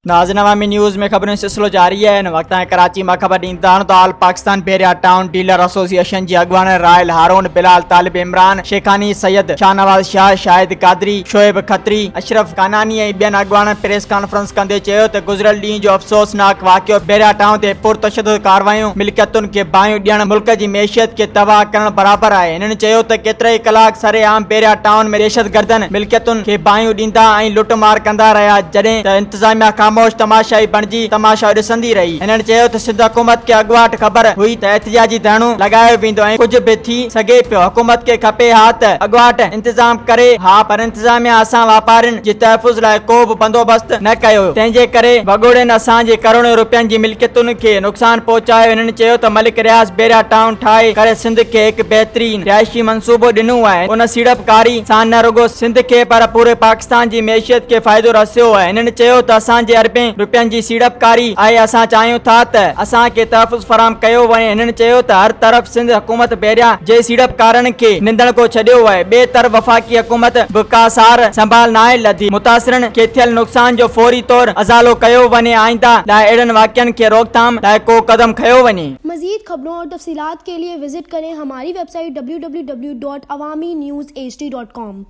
ناظرين عوامي نيوز ۾ خبرن جو سلسلو جاري آهي ان وقت تائين ڪراچي مان خبر ڏيندا آهن ته all Pakistan Bahria town dealer association جي اڳواڻ رائل هارون بلال طالب عمران شيخاني سيد شاهنواز شاهه شاهد قادري شعيب کتري اشرف ڪاناني ۽ ٻين اڳواڻن پريس ڪانفرنس ڪندي چيو ته گذريل ڏينهن جو افسوسناڪ واقعو بحريا ٽائون تي پرتشدد ڪارروايون ملڪيتن کي باهيون ڏيڻ ملڪ جي معيشت کي تباهه ڪرڻ برابر آهي هنن چيو ته ڪيترائي ڪلاڪ سرعام بحريا ٽائون ۾ دهشتگردن ملڪيتن کي باهيون ڏيندا ۽ لٽ مار ڪندا رهيا جڏهن ته انتظاميا خاموش تماشائي بڻجي تماشو ڏسندي رهي هنن چيو ته سنڌ حڪومت کي اڳواٽ خبر هئي ته احتجاجي ڌرڻو لڳايو ويندو ۽ ڪجهه به ٿي سگهي پيو حڪومت کي کپي ها ته اڳواٽ انتظام ڪري ها پر انتظاميا اسان واپارين جي تحفظ لاء ڪو به بندوبست نه ڪيو تنهن جي ڪري وڳوڙين اسان جي ڪروڙين روپين جي ملڪيتن کي نقصان پهچايو هنن چيو ته ملڪ رياض بيريا ٽائون ٺاهي ڪري سنڌ کي هڪ بهترين رهائشي منصوبو ڏنو آهي ان سيڙپڪاري سان نه رڳو سنڌ کي پر پوري پاڪستان جي معيشت کي فائدو رسيو آهي هنن چيو ته اسان جي اربين روپين جي سيڙپڪاري آهي اسان چاهيون ٿا ته اسان کي تحفظ فراهم ڪيو وڃي هنن چيو ته هر طرف سنڌ حڪومت پهريان جي سيڙپڪارن کي نندڻ ڪو ڇڏيو وهي، ٻئي طرف وفاقي حڪومت به ڪا سار سنڀال ناهي لڌي، متاثرن کي ٿيل نقصان جو فوري طور ازالو ڪيو وڃي آئنده لاء اهڙن واقعن کي روڪٿام لاء ڪو قدم کنيو وڃي. مزيد خبرون اور تفصيلات کے لئے وزٹ کریں ہماری ویب سائٹ www.awaminews hd.com.